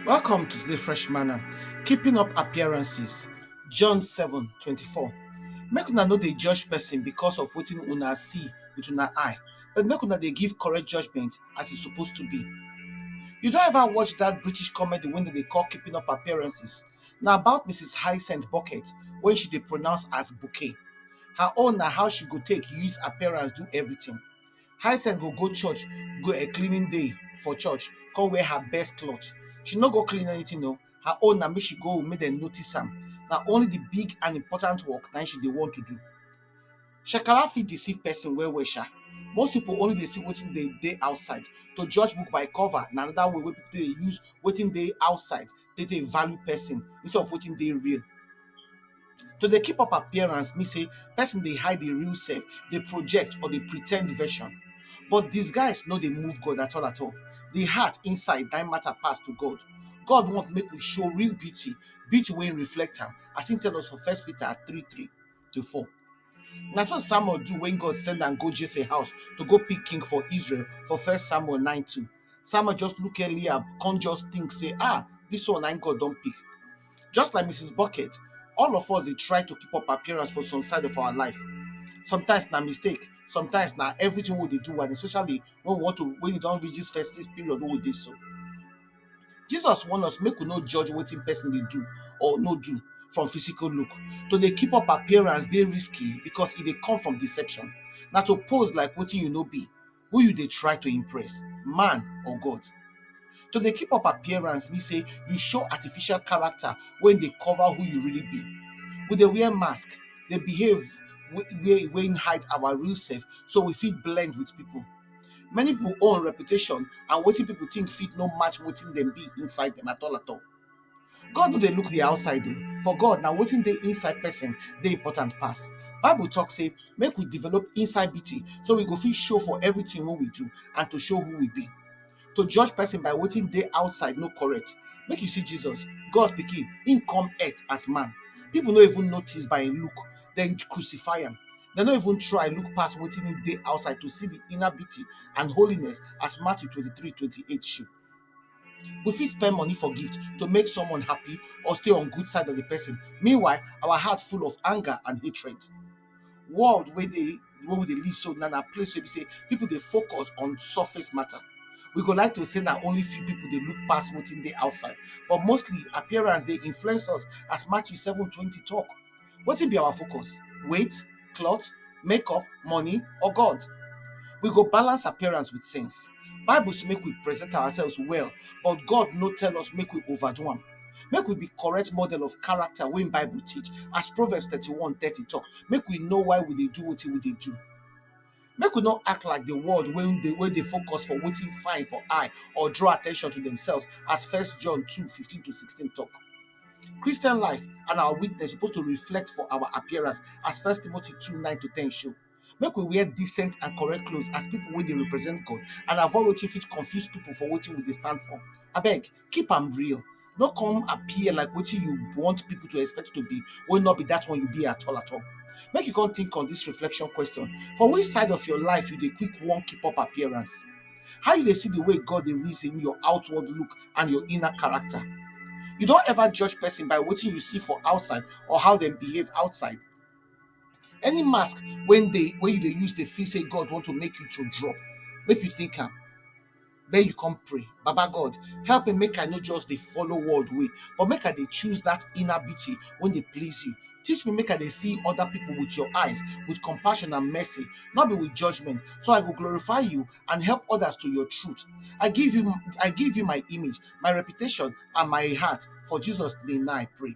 Welcome to the Fresh Manna, Keeping Up Appearances, John 7 24. Make una no dey judge person because of wetin una see with una eye, but make una dey give correct judgment as e suppose to be. You don ever watch that British comedy wey dem dey call Keeping Up Appearances? Na about Mrs. Hyacinth Bucket wey she dey pronounce as bouquet. Her own na how she go take use appearance do everything. Hyacinth go go church, go a cleaning day for church, come wear her best cloth. She no go clean anything o. Her own na make she go make dem notice am. Na only the big and important work na im she dey want to do. Shekara fit deceive person well well sha. Most people only dey see wetin dey dey outside. To judge book by cover na another way wey people take dey use wetin dey outside dey dey value person instead of wetin dey real. To dey keep up appearance mean sey person dey hide im real self, dey project or dey pre ten d version. But disguise no dey move God at all at all. De heart inside na im matter pass to God. God want make we show real beauty, beauty wey reflect am as im tell us for first Peter three three. to four. Na so Samuel do when God send am go Jesse house to go pick king for Israel for first Samuel 9 2. Samuel just look Eliab, come just think, say, ah, this one I God don't pick. Just like Mrs. Bucket, all of us they try to keep up appearance for some side of our life. Sometimes na mistake, sometimes na everything we dey do, and especially when we want to when you don't reach this festive period, we dey so. Jesus warn us make we no judge wetin person dey do or no do from physical look. To dey keep up appearance dey risky because e dey come from deception. Na to pose like wetin you no be, who you dey try to impress, man or God. To dey keep up appearance mean say you show artificial character wey dey cover who you really be. We dey wear mask, dey behave wey wey hide our real self so we fit blend with people. Many pipo own reputation and wetin pipo tink fit no match wetin dem be inside dem at all at all. God no dey look di outside o, for God na wetin dey inside pesin dey important pass. Bible tok sey make we develop inside beauty so we go fit show for everytin wey we do and to show who we be. to judge person by wetin dey outside no correct make you see jesus god pikin him come earth as man people no even notice by him look dem crucify am dem no even try look pass wetin he dey outside to see the inner beauty and holiness as matthew 23 28 show we fit spend money for gift to make someone happy or stay on good side of the person meanwhile our heart full of anger and hatred world wey dey wey we dey live so na na place wey be sey people dey focus on surface matter we go like to sey na only few people dey look pass wetin dey outside but mostly appearance dey influence us as Matthew seven twenty talk wetin be our focus weight cloth make up money or God we go balance appearance with sense bible say make we present ourselves well but God no tell us make we over do am Make we be correct model of character wey Bible teach as Proverbs thirty-one thirty talk. Make we know why we dey do wetin we dey do. Make we no act like the world wey dey wey dey focus for wetin fine for eye or draw attention to themselves as First John two fifteen to sixteen talk. Christian life and our witness suppose to reflect for our appearance as First Timothy two nine to ten show. Make we wear decent and correct clothes as people wey dey represent God and avoid wetin fit confuse people for wetin we dey stand for. Abeg, keep am real. No come appear like wetin you want people to expect you to be wey no be that one you be at all at all. Make you come think on this reflection question, For which side of your life you dey quick wan keep up appearance? How you dey see the way God dey reason your outward look and your inner character? You don ever judge person by wetin you see for outside or how dem behave outside? Any mask when they when you they use they feel say God want to make you to drop, make you think am. Then you come pray. Baba God, help me make I not just the follow world way, but make I they choose that inner beauty when they please you. Teach me make I they see other people with your eyes, with compassion and mercy, not be with judgment, so I will glorify you and help others to your truth. I give you I give you my image, my reputation, and my heart. For Jesus' name now I pray.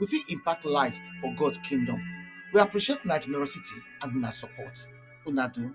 we fit impact lives for God kingdom. We appreciate una generosity and una support. Una do.